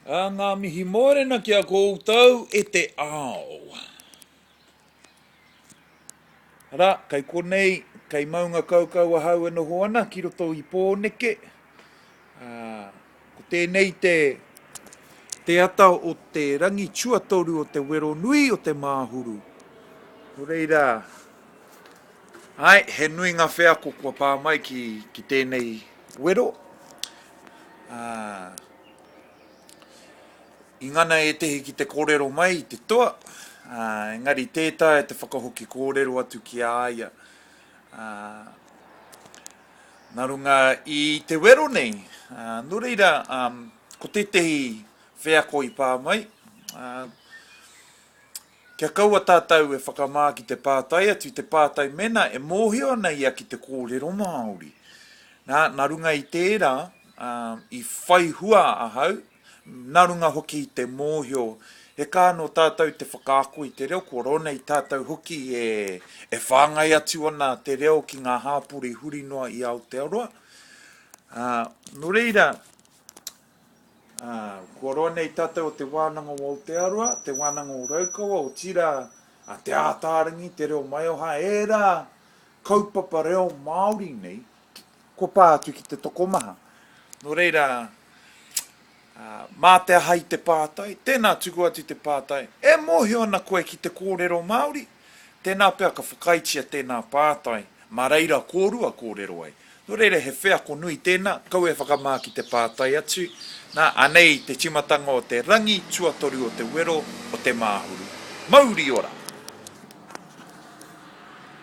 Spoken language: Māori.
Ā, ngā mihi mōrena ki a koutou e te ao. Arā, kei konei, kei Maungakaukau ahau e noho ana ki roto i Pōneke. Ā, ko tēnei te, te ata o te rangi tuatoru o te wero nui o Te Māhuru. Nō reira, Āe, he nui ngā wheako kua pā mai ki tēnei wero, ā, i ngana ētehi ki te kōrero mai i te toa, ā, engari tē taea te whakahoki kōrero atu ki a ia, ā, nā runga i te wero nei, ā, nō reira, ā, ko tētehi wheako i pā mai, ā, Kia kaua tātou e whakamā ki te pātai atu, te pātai mēnā e mōhio ana ia ki te kōrero Māori. Nā, nā runga i tērā, i whai hua ahau, nā runga hoki i te mōhio, he kaha nō tātou te whakaako i te reo, kua rona i tātou hoki e, e whāngai atu ana te reo ki ngā hāpori huri noa i Aotearoa. Ā, nō reira, Ā, kua roa nei tātou o Te Wānanga o Aotearoa, Te Wānanga o Raukawa, otirā, a Te Ātaarangi, Te Reo Maioha, ērā kaupapa reo Māori nei kua pā atu ki te tokomaha. Nō reira, ā, mā te aha i te pātai, tēnā tuku atu te pātai, e mōhio ana koe ki te kōrero Māori? Tēnā pea ka whakaaetia tēnā pātai, mā reira kōrua kōrero ai. Nō reira he wheako nui tēnā, kaua e whakamā ki te pātai atu, nā, anei te tīmatanga o te rangi tuatoru o te wero o Te Māhuru. Mauri ora!